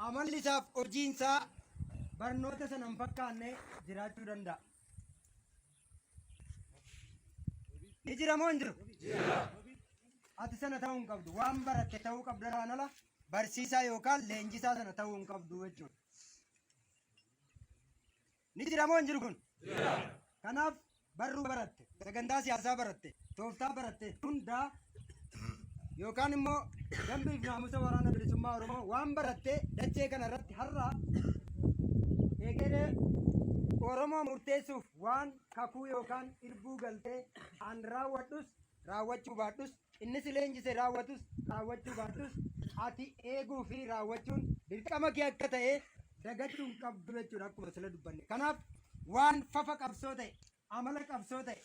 Amalli isaaf hojiin isaa barnoota sana hin fakkaanne jiraachuu danda'a. Ni jira moo hin jiru? Ati sana ta'uu hin qabdu. Waan baratte ta'uu qabdu irraan ala barsiisaa yookaan leenjisaa sana ta'uu hin qabdu jechuudha. Ni jira moo hin jiru kun? Kanaaf barruu baratte, sagantaa siyaasaa baratte, tooftaa baratte hundaa yookaan immoo dambii fi naamusa waraana bilisummaa Oromoo waan baratte dachee kana irratti har'a egeree Oromoo murteessuuf waan kakuu yookaan irbuu galtee an raawwadhus raawwachuu baadhus Inni si leenjise raawwatus raawwachuu baattus ati eeguu fi raawwachuun dirqama kee akka ta'e dagachuu hin qabdu jechuudha akkuma sila dubbanne. Kanaaf waan fafa qabsoo ta'e, amala qabsoo ta'e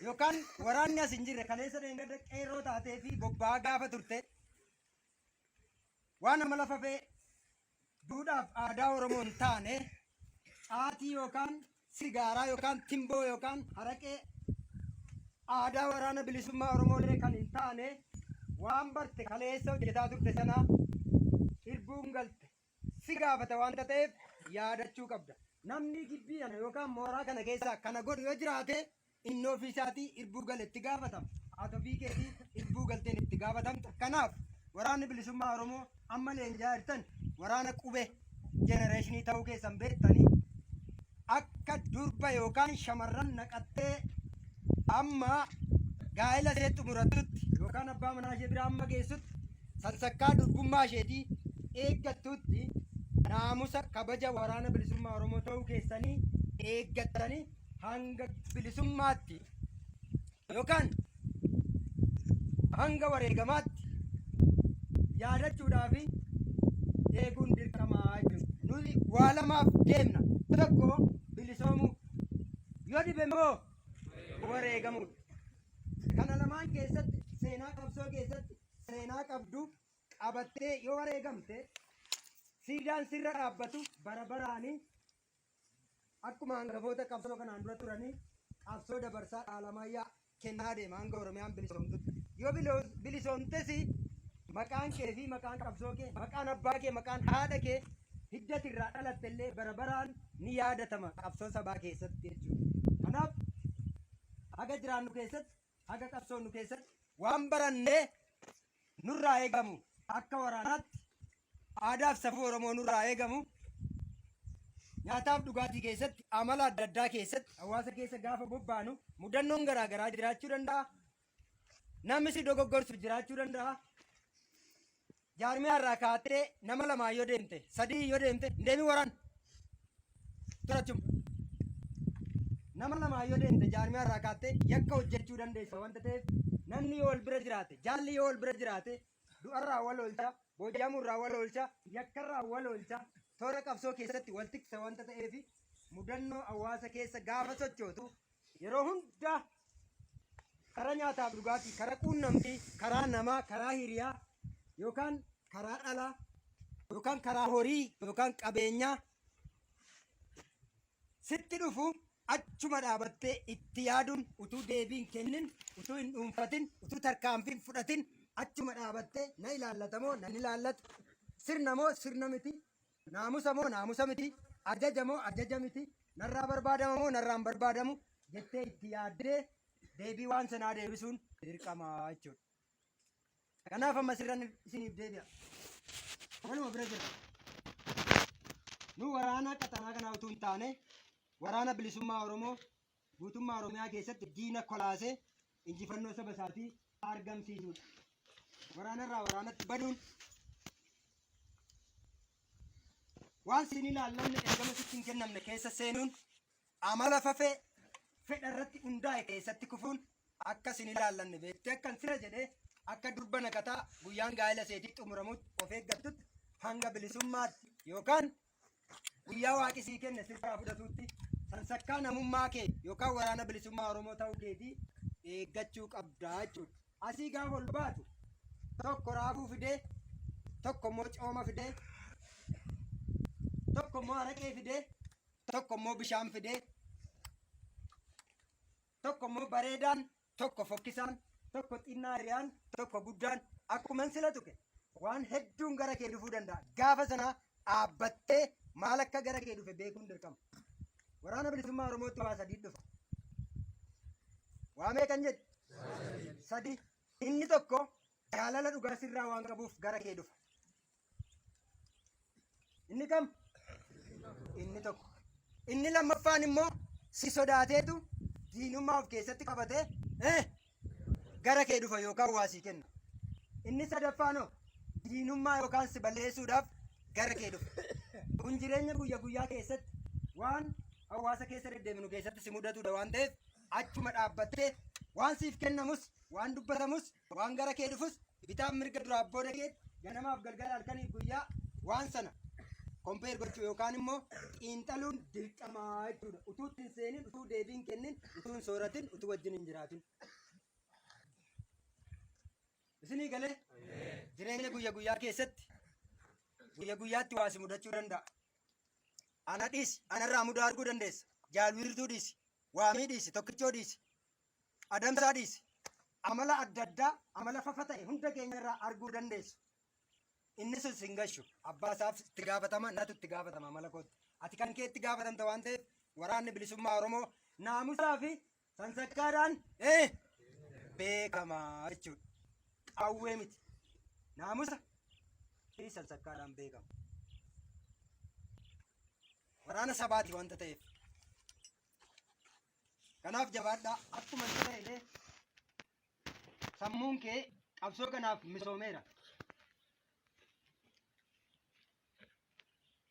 yookaan waraanni as hin jirre kaleessa dheengadda qeerroo taatee fi bobba'aa gaafa turte waan amala fafee duudhaaf aadaa Oromoo hin taane caatii yookaan sigaaraa yookaan timboo yookaan haraqee aadaa waraana bilisummaa Oromoolee kan hin taane waan barte kaleessa hojjetaa turte sana irbuun galte si gaafata waan ta'eef yaadachuu qabda. Namni gibbii kana yookaan mooraa kana keessaa kana godhu yoo jiraate Inni ofii isaatii irbuu gale itti gaafatama. Haati ofii keetii irbuu galteen itti gaafatamta. Kanaaf waraanni bilisummaa Oromoo amma leenjaa jirtan waraana qube jenereeshinii ta'uu keessan beektanii akka durba yookaan shamarran naqattee amma gaa'ela ishee xumurattutti yookaan abbaa manaa ishee biraa amma geessutti sansakkaa durbummaa isheetii eeggattutti naamusa kabaja waraana bilisummaa Oromoo ta'uu keessanii eeggattanii hanga bilisummaatti yookaan hanga wareegamaatti yaadachuudhaa fi eeguun dirqamaa jechuudha. Nuti waa lamaaf deemna. Tokko bilisoomuu yoo dhibe immoo wareegamuudha. Kana lamaan keessatti seenaa qabsoo keessatti seenaa qabdu qabattee yoo wareegamte siidaan sirra dhaabbatu bara baraanii Akkuma hangafoota qabsoo kanaan dura turanii qabsoo dabarsaa dhaalamaayyaa kennaa deema hanga Oromiyaan bilisoomtutti. Yoo bilo- bilisoomtes maqaan kee fi maqaan qabsoo kee, maqaan abbaa kee, maqaan haadha kee hiddati irraa dhalatte illee bara baraan ni yaadatama qabsoo sabaa keessatti jechuudha. Kanaaf haga jiraannu keessatti Haga qabsoonu keessatti waan barannee nurraa eegamu akka waraanaatti aadaaf safuu Oromoo nurraa eegamu nyaataaf dhugaatii keessatti amala adda addaa keessatti hawaasa keessa gaafa bobbaanu mudannoon garaa garaa jiraachuu danda'a. Namni si dogoggorsu jiraachuu danda'a. Jaarmiyaa irraa kaattee nama lamaan yoo deemte, sadii yoo deemte, hin deemin waraan. Turachum. Nama lamaan yoo deemte jaarmiyaa irraa kaattee yakka hojjechuu dandeessa wanta ta'eef namni yoo wal bira jiraate, jaalli yoo wal bira jiraate du'arraa wal oolcha, booji'amuurraa wal oolcha, yakkarraa wal oolcha, toora qabsoo keessatti wal tiksa wanta ta'eef mudannoo hawaasa keessa gaafa sochootu Yeroo hunda karaa nyaataaf dhugaatii, karaa quunnamtii, karaa namaa, karaa hiriyaa yookaan karaa dhalaa yookaan karaa horii yookaan qabeenyaa sitti dhufu achuma dhaabattee itti yaaduun utuu deebiin kennin utuu hin dhuunfatin utuu tarkaanfiin fudhatin achuma dhaabattee na ilaallata moo na hin ilaallatu sirna moo sirna miti Naamusa moo naamusa miti, ajaja moo ajaja miti, narraa barbaadama moo narraa hin barbaadamu jettee itti yaaddee deebii waan sanaa deebisuun dirqama jechuudha. Kanaaf amma sirran isiniif deebi'a. Kanuma bira jira. Nu waraana qaxanaa kanaa utuu hin taane waraana bilisummaa Oromoo guutummaa Oromiyaa keessatti diina kolaasee injifannoo saba isaatii argamsiisuudha. Waraanarraa waraanatti baduun waan siin ilaallanne ergama sitti hin kennamne keessa seenuun amala fafee fedha irratti hundaa'e keessatti kufuun akka siin ilaallanne beektee akkan sira jedhee akka durba naqataa guyyaan gaa'ela seetii xumuramutti of eeggattutti hanga bilisummaatti yookaan Guyyaa waaqi sii kenne sirraa fudhatuutti sansakkaa namummaa kee yookaan waraana bilisummaa Oromoo ta'uu keetii eeggachuu qabdaa jechuudha. Asii gaafa ol baatu tokko raafuu fidee tokko immoo cooma fidee tokko immoo araqee fidee tokko immoo bishaan fidee tokko immoo bareedaan tokko fokkisaan, tokko xinnaa hiriyaan, tokko guddaan akkuman sila tuqe waan hedduun gara kee dhufuu danda'a. Gaafa sana dhaabbattee maal akka gara kee dhufe beekuun dirqama. Waraana bilisummaa Oromootti waa sadii dhufa. Waa meeqan jedhe? Sadii. Inni tokko jaalala dhugaa sirraa waan qabuuf gara kee dhufa. Inni kam? Inni tokko. Inni lammaffaan immoo si sodaateetu diinummaa of keessatti qabatee eh, gara kee dhufa yookaan waa sii kenna. Inni sadaffaan hoo diinummaa yookaan si balleessuudhaaf gara kee dhufa. Kun jireenya guyya guyyaa keessatti waan hawaasa keessa deddeeminu keessatti si mudatudha waan ta'eef achuma dhaabbattee waan siif kennamus waan dubbatamus Waan gara kee dhufus bitaaf mirga duraaf booda keetti ganamaaf galgala halkaniif guyyaa waan sana kompeer gochuu yookaan immoo xiinxaluun dirqamaa jechuudha. Utuu itti hin seenin, utuu deebii hin kennin, utuu hin sooratin, utuu wajjin hin jiraatin. Isinii galee jireenya guyya guyyaa keessatti guyya guyyaatti waasi mudachuu danda'a. Ana dhiisi, anarraa mudaa arguu dandeessa. Jaalwiirtuu dhiisi, waamii dhiisi, tokkichoo dhiisi. adamsaa dhiisi. Amala adda addaa, amala fafa ta'e hunda keenya irraa arguu dandeessu. Inni sun sin gashu. Abbaa isaaf itti gaafatama, natu itti gaafatama amala kootti. Ati kan kee itti gaafatamta waan ta'eef waraanni bilisummaa Oromoo naamusaa fi sansakkaadhaan eh, beekama jechuudha. Qawwee miti. Naamusa fi sansakkaadhaan beekama. Waraana sabaati wanta ta'eef. Kanaaf jabaadhaa akkuma itti ta'e illee sammuun kee qabsoo kanaaf misoomeera.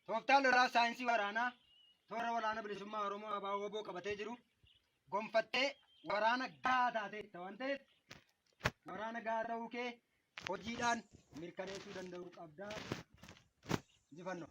Tooftaa lolaa saayinsii waraanaa toora waraana bilisummaa Oromoo abaa woboo qabatee jiru gonfattee waraana gahaa taateetta waan ta'eef waraana gahaa ta'uu kee hojiidhaan mirkaneessuu danda'uu qabdaa. Injifannoo.